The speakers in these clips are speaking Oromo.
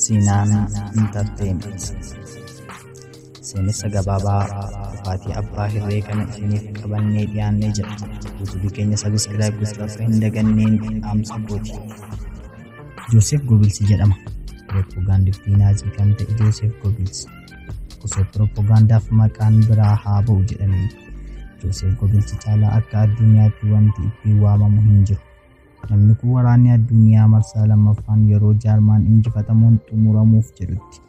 Siinaan Intarteementii Seenessa gabaabaa dhufaatii abbaa hirree kana isiniif qabannee dhiyaannee jira. Yuutuubii keenya sabiskiraayib gochuu akka hin daganneen dhaamsa kooti. Jooseef Gobilsi jedhama. Pirooppogaandiftii Naazii kan ta'e Jooseef Gobilsi. Osoo pirooppogaandaaf maqaan biraa haa ba'u jedhamee. Jooseef Gobilsi caalaa akka addunyaatti wanti ittiin waamamu hin jiru. Namni kun waraanni addunyaa marsaa lammaffaan yeroo jaarmaan injifatamuun xumuramuuf jedhutti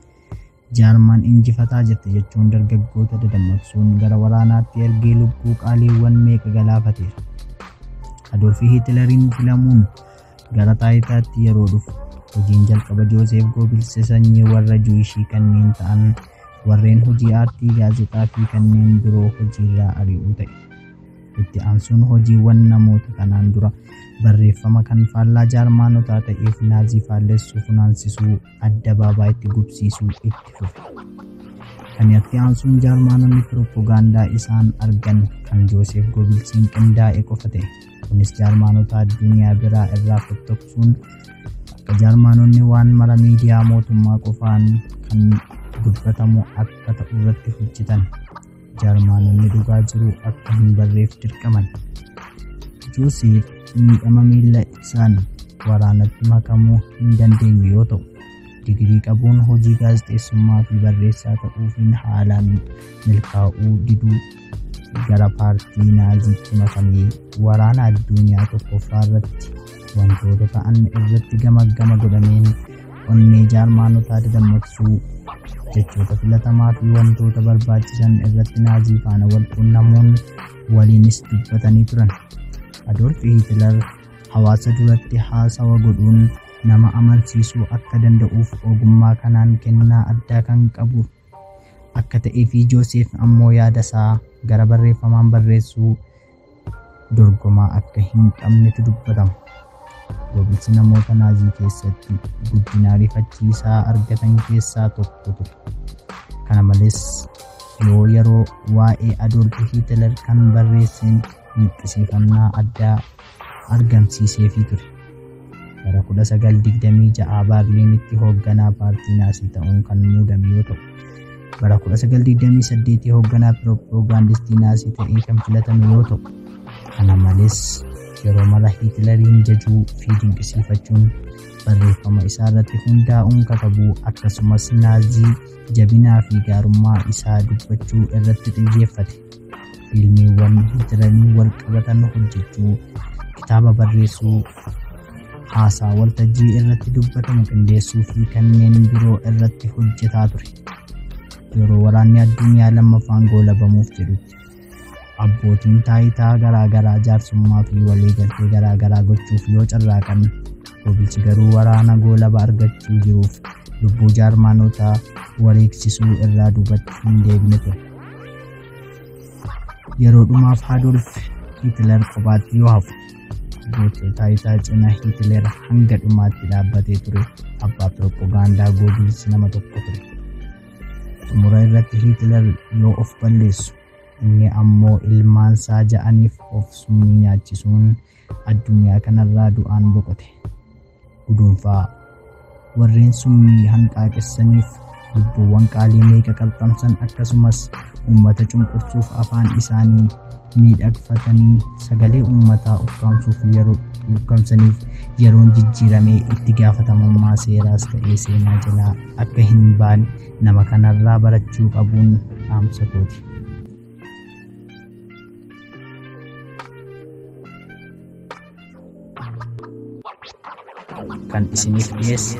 jaarmaan injifataa jette jechuun dargaggoota dadammaqsuun gara waraanaatti ergee lubbuu qaaliiwwan meeqa galaafateera. Adolfi Hiitilariin filamuun gara taayitaatti yeroo dhufu hojiin jalqaba Jooseef Goobilse sanyii warra Juwishii kanneen ta'an warreen hojii aartii gaazexaa fi kanneen biroo hojiirraa ari'uu ta'e. Itti aansuun hojiiwwan namoota kanaan dura barreeffama kan faallaa jaarmaanotaa ta'eef naazii faallessuu funaansisuu adda baabaa itti gubsiisuu itti fufe. Kan itti aansuun jaarmaanonni pirooppogaandaa isaan argan kan Jooseef Goobilsiin qindaa'e qofa ta'e. Kunis jaarmaanota addunyaa biraa irraa fottoqsuun akka jaarmaanonni waan mara miidiyaa mootummaa qofaan kan dubbatamu akka ta'u irratti hojjetan. Jarmaanonni dhugaa jiru akka hin barreef dirqaman. Joosiif miidhama miila isaan waraanatti makamuu hin dandeenye yoo ta'u, digirii qabuun hojii gaazexeessummaa fi barreessaa ta'uufiin haalaan milkaa'uu diduu gara paartii naaziitti makamee waraana addunyaa tokkoffaa irratti wantoota ta'an irratti gamaggama godhameen onnee jaarmaanotaa dadammaqsuu jechoota filatamaa fi wantoota barbaachisan irratti naazii faana wal quunnamuun waliinis dubbatanii turan. Adolf Hitler hawaasa duratti haasawa godhuun nama amansiisuu akka danda'uuf ogummaa kanaan kennaa addaa kan qabu akka ta'ee fi Jooseef ammoo yaada isaa gara barreeffamaan barreessuu dorgomaa akka hin qabnetu dubbatama. Goobinsi namoota naazii keessatti guddina ariifachiisaa argatan keessaa tokko ture. Kana malees yoo yeroo waa'ee Adoolf Hiitler kan barreesseen dinqisiifannaa addaa argamsiiseefii ture. Bara 1926 Baarliinitti hoogganaa paartii Naasii ta'uun kan muudame yoo ta'u, bara 1928 hoogganaa pirooppaagaandistii Naasii ta'ee kan filatame yoo ta'u, kana malees yeroo mara Hiitilariin jajuu fi dinqisiifachuun barreeffama isaa irratti hundaa'uun katabuu akkasumas Naazii jabinaa fi gaarummaa isaa dubbachuu irratti xiyyeeffate. fiilmiiwwan jiranii wal qabatan hojjechuu kitaaba barreessuu haasaa waltajjii irratti dubbatamu qindeessuu fi kanneen biroo irratti hojjetaa ture yeroo waraanni addunyaa lammaffaan goolabamuuf jedhutti abbootiin taayitaa garaagaraa jaarsummaa fi waliigaltee garaagaraa gochuuf yoo carraaqan gobilchi garuu waraana goolaba argachuu jiruuf lubbuu jaarmaanotaa wareegsisuu irraa duubatti hin deebine ture. Yeroo dhumaaf Adolf Hitler kophaatti yoo hafu gocha taayitaa cina Hitler hanga dhumaatti dhaabbatee ture abbaa piroopagaandaa Goebbels nama tokko ture. Xumura irratti Hitler yoo of balleessu inni ammoo ilmaan isaa ja'aniif of summii nyaachisuun addunyaa kanarraa du'aan boqote. guduunfaa warreen summii hanqaaqessaniif lubbuuwwan qaalii meeqa qalxamsan akkasumas uummata cunqursuuf afaan isaanii miidhagfatanii sagalee uummataa ukkaamsuuf yeroo ukkaamsaniif yeroon jijjiiramee itti gaafatamummaa seeraas ta'ee seenaa jalaa akka hin baane nama kanarraa barachuu qabuun dhaamsa kooti. kan isiniif dhiyeesse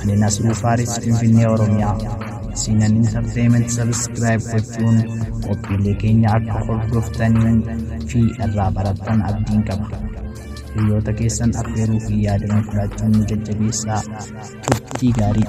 ani Nasruu Faaris Finfinnee Oromiyaa siinan intarteeymenti sabiskiraayib gochuun qophiilee keenya akka hordoftanii fi irraa barattan abdiin qaba. Hiriyoota keessan affeeruu fi yaadanii fudhachuun nu jajjabeessaa turtii gaarii.